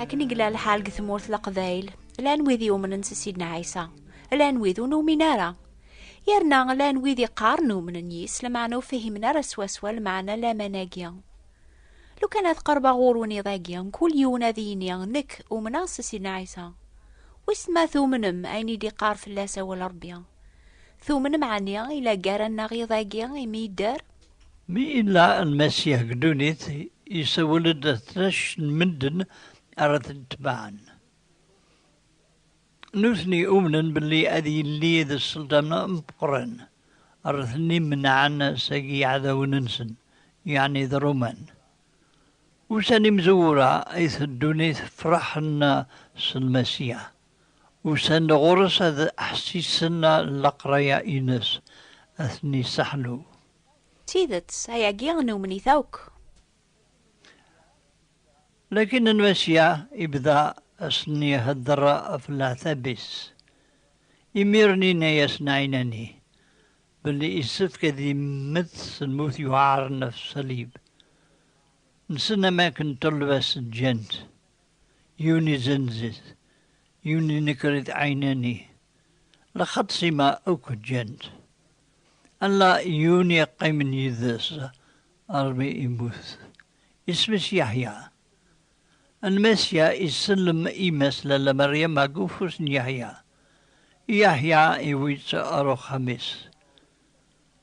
Akken i gla lḥal deg tmurt leqbayl, llan wid yumnen s Sidna Ɛisa, llan wid ur numin ara. Yerna llan wid iqqaren umnen yis, lmeɛna ur fhimen ara swaswa lmeɛna laman-agi. Lukan ad qerbeɣ ɣur-wen iḍ-agi, mkul yiwen ad yini, Nekk, umneɣ s Sidna Ɛisa. Wissen ma tumnem ayen i d-iqqar fell-as awal Rebbi? Tumnem ɛni i la ggaran-aɣ iḍ-agi imi yedder? Mi yella Lmasiḥ deg ddunit, yessawel-d ɣef tlac n medden ara t-itebɛen. Nutni umnen belli ad yili d sselṭan ameqqran, ara ten-imenɛen seg yiɛdawen-nsen, yeɛni d Ṛuman. Ussan imezwura ay teddun ay tefṛeḥ-n s Lmasiḥ. Usan-d ɣur-s ad ḥessisen leqraya-ines, ad ten-yesseḥnu. D tidet, ayagi numen-it akk. Lakin n Masya ibda ad sen-ihedder ɣef leɛtab-is. Imiren yenna-yasen Ɛinani belli issefk ad immet s lmut yuɛren ɣef ṣṣalib nsen am wakken ṭṭelba-s ǧǧan-t. yiwen izzenz-it, yiwen inekker-it ɛinani, lxaṭ sima akk ǧǧan-t. Ala yiwen yeqqimen yid-s armi immut, isem-is Yeḥya. Lmasiya isellem yemma-s Lalla Meryama deg ufus n Yeḥya, Yeḥya iwwi-tt ɣer uxxam-is.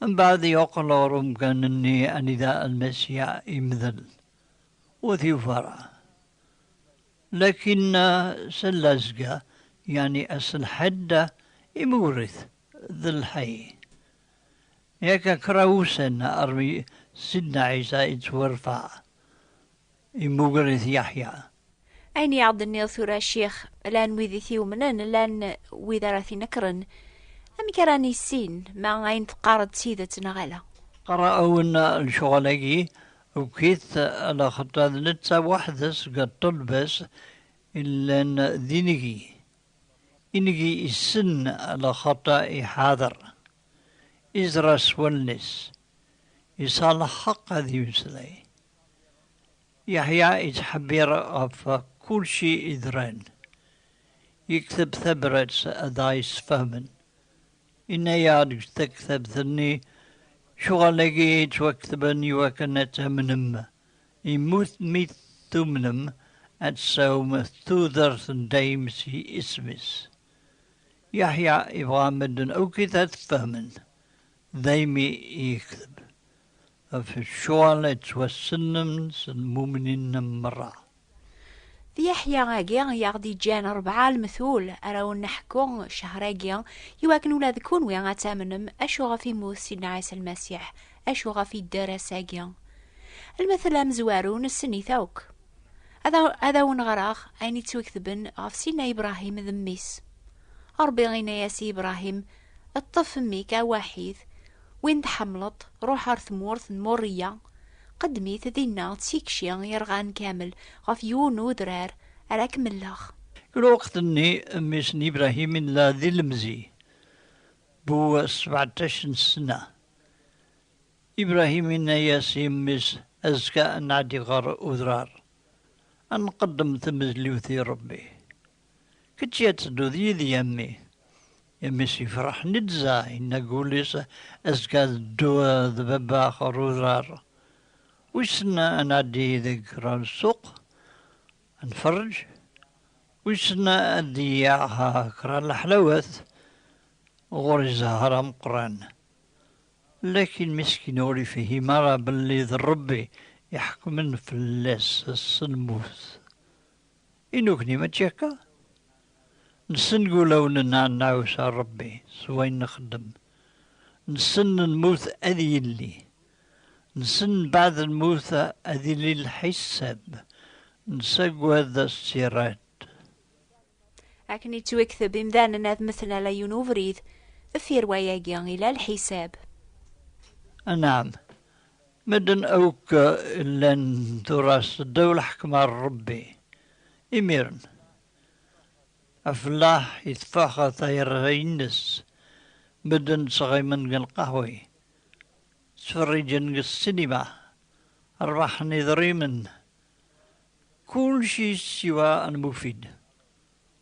Mbeɛd yeqqel ɣer umkan-nni anida Lmasiya yemdel. Ur yufi ara. Lakin s llazga, yeɛni ass n lḥedd, imewwret d lḥay. Yakka kra wussan armi Sidna Ɛisa yettwarfeɛ, imewwret Yeḥya. Ayen i aɣ-d-tenniḍ tura a ccix, llan wid i t-iumnen, llan wid ara t-inekren. Amek ara nissin ma ayen teqqareḍ d tidet neɣ ala? Qqareɣ-awen lecɣal-agi Tuki-t laxeṭṭa d netta weḥd-s deg ṭṭelba-s i llan d inigi. Inigi issen laxeṭṭa iḥader, iẓra s wallen-is, yesɛa lḥeqq ad yemmeslay. Yeḥya yettḥebbiṛ ɣef kulci yeḍran, yekteb tabrat ad aɣ-yessfehmen. Inna-yaɣ-d deg tektabt-nni, Cɣal-agi i yettwaketben iwakken ad tamnem, yemmut mi tumnem, ad tsawem tudert n dayem si isem-is. Yeḥya ibɣa medden akit ad t-fehmen, daymi i yekteb, Ɣef ccuɣal yettwassnen s lmumnin merra. D Yeḥya-agi i aɣ-d-iǧǧan rebɛa lmetul ara awen-neḥku ccehṛ-agi, i wakken ula d kunwi ad tamnem acu ɣef immut Sidna Ɛisa Lmasiḥ, acu ɣef idder ass-agi. Lmetl amezwaru nessen-it akk. Ad ad awen-ɣreɣ ayen yettwaketben ɣef Sidna Ibrahim d mmi-s. Ṛebbi inna-yas i Ibrahim, Ṭṭef mmi-k awaḥid, Win tḥemmleḍ, ruḥ ɣer tmurt n Moriya, qeddem-it dinna d tikci yerɣan kamel, ɣef yiwen n udrar ara k-melleɣ. I lweqt-nni, mmi-s n Ibrahim yella d ilemẓi bu sbeɛṭac n ssna. Ibrahim yenna-yas i mmi-s, Azekka ad nɛeddi ɣer udrar, ad nqeddem tamezliwt i Ṛebbi. Kečč ad tedduḍ yid-i a mmi, Imi s-yefreḥ Nizza, yenna deg wul-is, Azekka ad dduɣ d baba ɣer udrar. Wissen ad nɛeddi deg kra n ssuq, ad nferreǧ? Wissen ad d-yaɣ kra n leḥlawat? Ɣur-i zzher ameqqran. Lakin miskin ur yefhim ara belli d Ṛebbi iḥekmen fell-as s lmut. I nukni mačči akka? Nsell ulawen-nneɣ ad nɛusa Rebbi s wayen nxeddem, nsell lmut ad yilli, nsell mbaɛd lmut ad illi lḥisab, nsagad as-tt-irad. Akken yettwekteb imdanen ad mmten ala yiwen ubrid, deffir wayagi ila lḥisab. Anɛam, Medden akk llan tura seddaw lḥekma n Ṛebbi. Imiren, afellaḥ iteffeɣ tayerra-ines, medden ttɣimen deg lqahwi, ttferriǧen deg ssinima, ṛbaḥen idrimen, kulci siwa lmufid,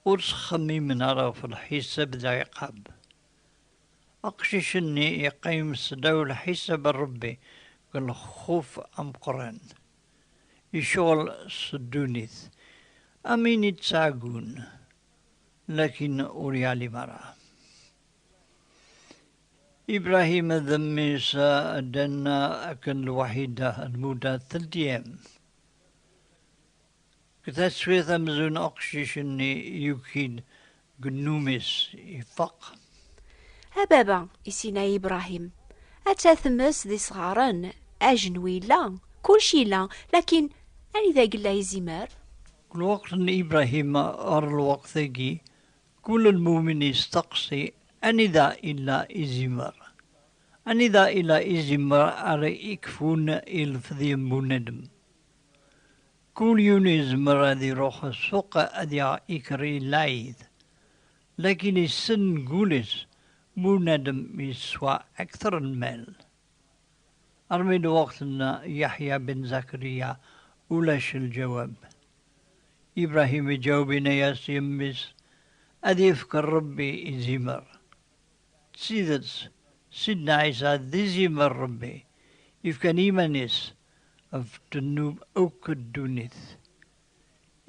ur ttxemmimen ara ɣef lḥisab d lɛiqab. Aqcic-nni yeqqim sdaw lḥisab n Rebbi deg lxuf ameqqran, yecɣel s ddunit am win i d-ttɛeggun, lakin ur yeɛlim ara. Ibrahim d mmi-s ddan akken lwaḥida, lmuda teldi-yam. Deg taswiɛt amzun aqcic-nni yuki-d deg nnum-is, ifaq. A baba, isinna-yi Ibrahim, atta tmes d isɣaren, ajenwi yella, kulci yella, lakin anida yella izimer? Deg lweqt n Ibrahim ɣer lweqt-agi, kul lmumin yesteqsi anida yella izimer? Anida yella izimer ara yekfun ilfeḍ n bunadem? Kul yiwen yezmer ad iruḥ ssuq ad yaɣ ikerri lɛid, lakin issen deg wul-is bunadem yeswa akter n lmal. Armi lweqt n Yeḥya ben Zakariya ulac lǧawab. Ibrahim iǧaweb yenna-yas i mmi-s ad yefk Rebbi i zimer. D tidet, Sidna Ɛisa d izimer n Ṛebbi, yefkan iman-is ɣef ddnub akk n ddunit.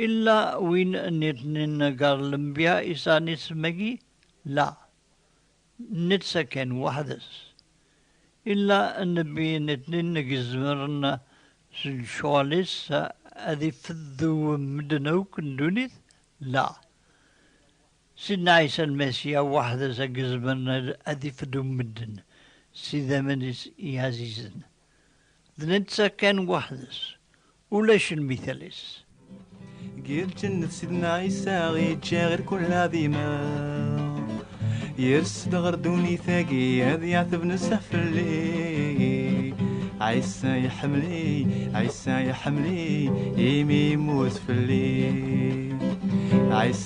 Illa win nniḍnen gar lenbya yesɛan isem-agi? La, netta kan weḥd-s. Illa nnbi nniḍnen i izemren s lecɣal-is ad ifeddu medden akk n ddunit? La, Sidna Ɛisa Lmasiya weḥd-s a yezmren ad ifeddu medden s idammen-is iɛzizen. D netta kan weḥd-s, ulac lmital-is. Ger lǧennet Sidna Ɛisa iǧǧa ɣer kull ɛdima, yers-d ɣer ddunit-agi ad yeɛteb nezzeh fell-i. Ɛisa iḥemmel-i, Ɛisa iḥemmel-i, imi yemmut fell-i. Ɛisa.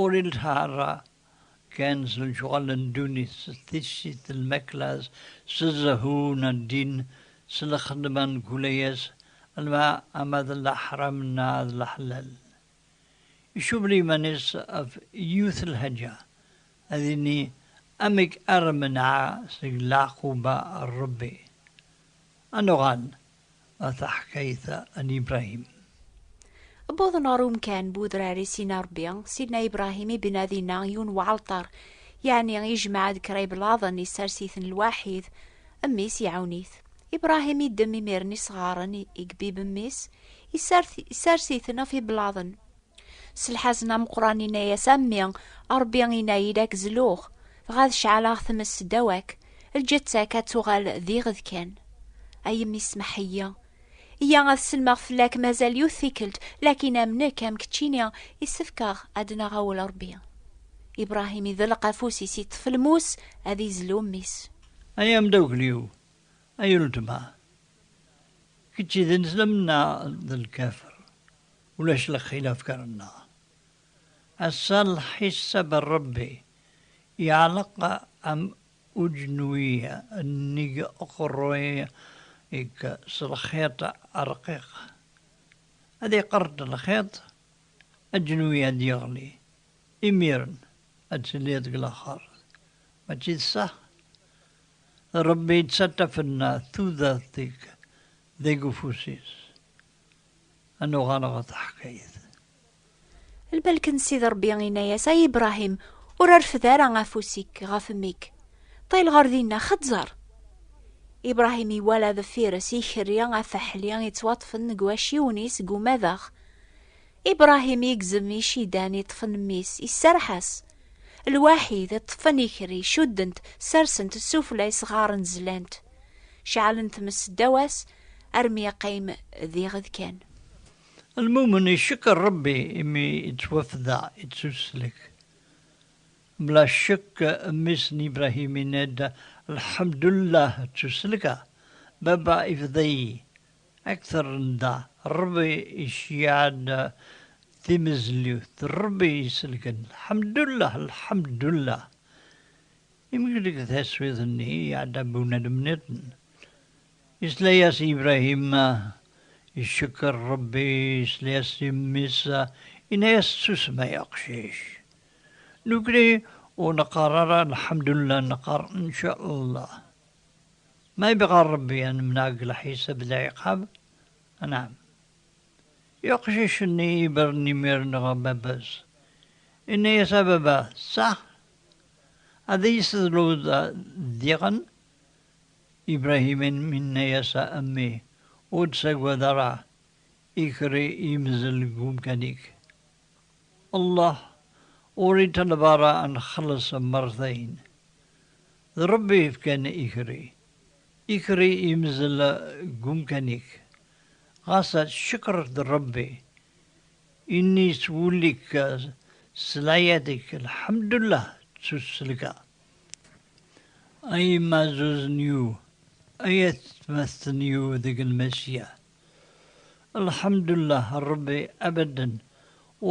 Ur ilha ara kan s lecɣal n ddunit, s tissit, s lmakla, s zzhu n ddin, s lxedma n kul ayas, ama d leḥram neɣ d leḥlal. Icubel iman-is ɣef yiwet lḥaǧa, ad ini, Amek ara menɛeɣ seg leɛquba n Rebbi? Ad nuɣal a taḥkayt-a n Ibrahim. Wwḍen ɣer umkan bu udrar i Sina Rebbi, Sidna Ibrahim ibna dinna yiwen weɛalṭar, yeɛni ijmeɛ-d kra iblaḍen isers-iten lwaḥid, mmi-s iɛawen-it. Ibrahim iddem imir-nni isɣaren i ibib mmi-s, isers-iten ɣef iblaḍen. S lḥazen ameqqran inna-yas, A mmi, Ṛebbi inna-yi-d ad k-zluɣ, dɣa ad ceɛleɣ tmes seddaw-ak, lǧetta-k ad tuɣal d iɣed kan. A yemmi smeḥ-iyi. Iyya ad sellmeɣ fell-ak mazal yiwet tikkelt, lakin am nekk am keččini, issefk-aɣ ad d-naɣ awal Ṛebbi. Ibṛahim iḍelleq afus-is, iṭṭef lmus ad izlu mmi-s. Ay amdakkel-iw, ay uletma, kečč d ineslemen neɣ d lkafir? Ulac lxilaf gar nneɣ. Ass-a lḥisab n Rebbi yeɛleq am ujenwi nnig uqerruy-ik s lxiṭ arqiq. Ad iqerreṭ lxiṭ, ajenwi ad yeɣli, imiren ad tiliḍ deg laxert. Mačči d sseḥ? Rebbi yettaṭṭaf-n tudert-ik deg ufus-is. Ad nuɣal ɣer taḥkayt. Lbalken Sidi Ṛebbi inna-yas, Ay Ibṛahim, ur rfed ara afus-ik ɣef mmi-k, ṭṭil ɣer dinna, xeẓẓer! Ibṛahim iwala deffir-s ikerri afaḥli ittwaṭṭfen deg waciwen-is deg umadaɣ. Ibṛahim igzem icidan iṭṭfen mmi-s, iserreḥ-as. Lwaḥid, ṭṭfen ikerri, cudden-t, sersen-t s sufella isɣaren zlan-t. Ceɛlen tmes seddaw-as, Armi yeqqim diɣ d kan. Lmumen icekkeṛ Ṛebbi imi ittwafdeɛ, ittuslek. Bla ccekk mmi-s n Ibrahim yenna-d, Lḥemdullah ttuselkeɣ, baba ifda-iyi. Akteṛ n da, Ṛebbi iceyyeɛ-d timezliwt, Ṛebbi isellken, Lḥemdullah, Lḥemdullah. Imi deg taswiḍt-nni iɛedda bunadem niḍen, Isla-yas Ibrahim, icekker Ṛebbi, isla-yas i mmi-s, inna-yas susem ay aqcic. Nekni ur neqqar ara Alḥemdullah neqqar Ncallah. Ma ibɣa Ṛebbi ad nemneɛ deg lḥisab d lɛiqab, anɛam. I uqcic-nni ibren imir-nni ɣer baba-s, inna-yas a baba, tesɛa? Ad iyi-tessedluḍ diɣen? Ibrahimen inna-yas, A mmi, ur ttagad ara, ikker yemzel deg umkan-ik. Allah ur iṭaleb ara ad nxelles mertayen. D Ṛebbi yefkan ikerri. Ikerri yemzel deg umkan-ik. Ɣas ad tcekkreḍ Ṛebbi, imi yettwulli-k s leɛyad-ik, lḥemdullah, ttuselka. A yemma zuz n yu, ay at tmast n yu deg lmasiya. Lḥemdullah Rebbi abaden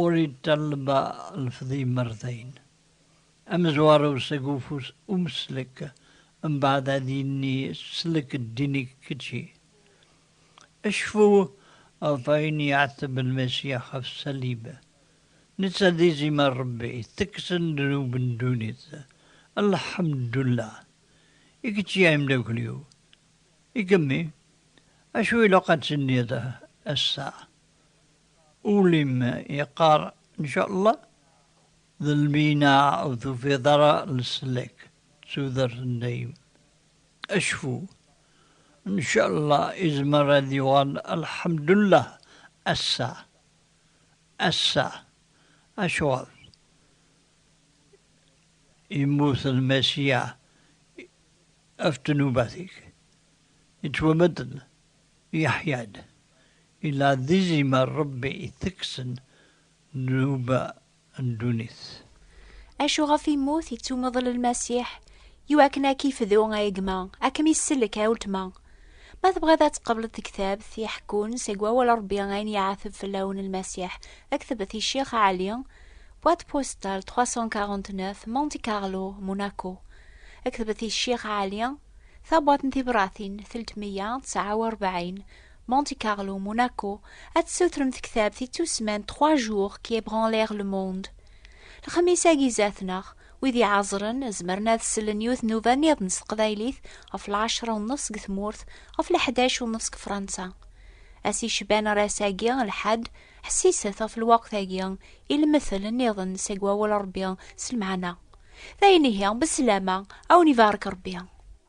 ur iṭalba lefdimer dayen. Amezwaru seg ufus umslek mbaɛd ad yenni slek ddin-ik kečči. Cfu ɣef wayen yeɛteb lmasiya ɣef Salib. Netta d izim a Ṛebbi, tekkseḍ ddnub n ddunit, Lḥemdullah! I kečč i ameddakel-iw. I kemmi? Acu ilaq ad tenniḍ ass-a? Ul-im yeqqar Ncallah, d lmina ur tufiḍ ara leslak d tudert n dayem. Acfu! Ncallah izmer ad yuɣal Lḥemdullah ass-a. Ass-a, acuɣer yemmut Lmasiya ɣef ddnubat-ik? Yettwamedden, yeḥya-d, yella d izimer Ṛebbi itekksen ddnuba. n ddunit. Acu ɣef immut yettumeḍl lmasiḥ, iwakken a k-ifdu a gma, a kem-issellek a ultma. Ma tebɣiḍ ad tqebleḍ tektabt iḥekkun seg wawal Rebbi ayen yeɛteb fell-awen lmasiḥ, kteb-t i Ccix Ɛli, boîte postale 349, Monte Carlo, Monaco. Kteb-t i Ccix Ɛli, Tabwaṭ n Tibṛatin, teltmeyya tesɛa u rebɛin, Monte Carlo, Monaco, ad tessutrem tektabt i tusman Trois jours qui ébranlèrent le monde. Lexmis-agi zat-neɣ, wid iɛeẓren zemren ad sellen yiwet nnuba niḍen s teqbaylit ɣef lɛecra u nnef seg tmurt, ɣef leḥdac u nnef seg Fransa. Ass yecban ar ass-agi, lḥedd, ḥessiset ɣef lweqt-agi i lemtel niḍen seg wawal n Rebbi s lmeɛna. D ayen ihi, besslama, a wen-ibarek Rebbi.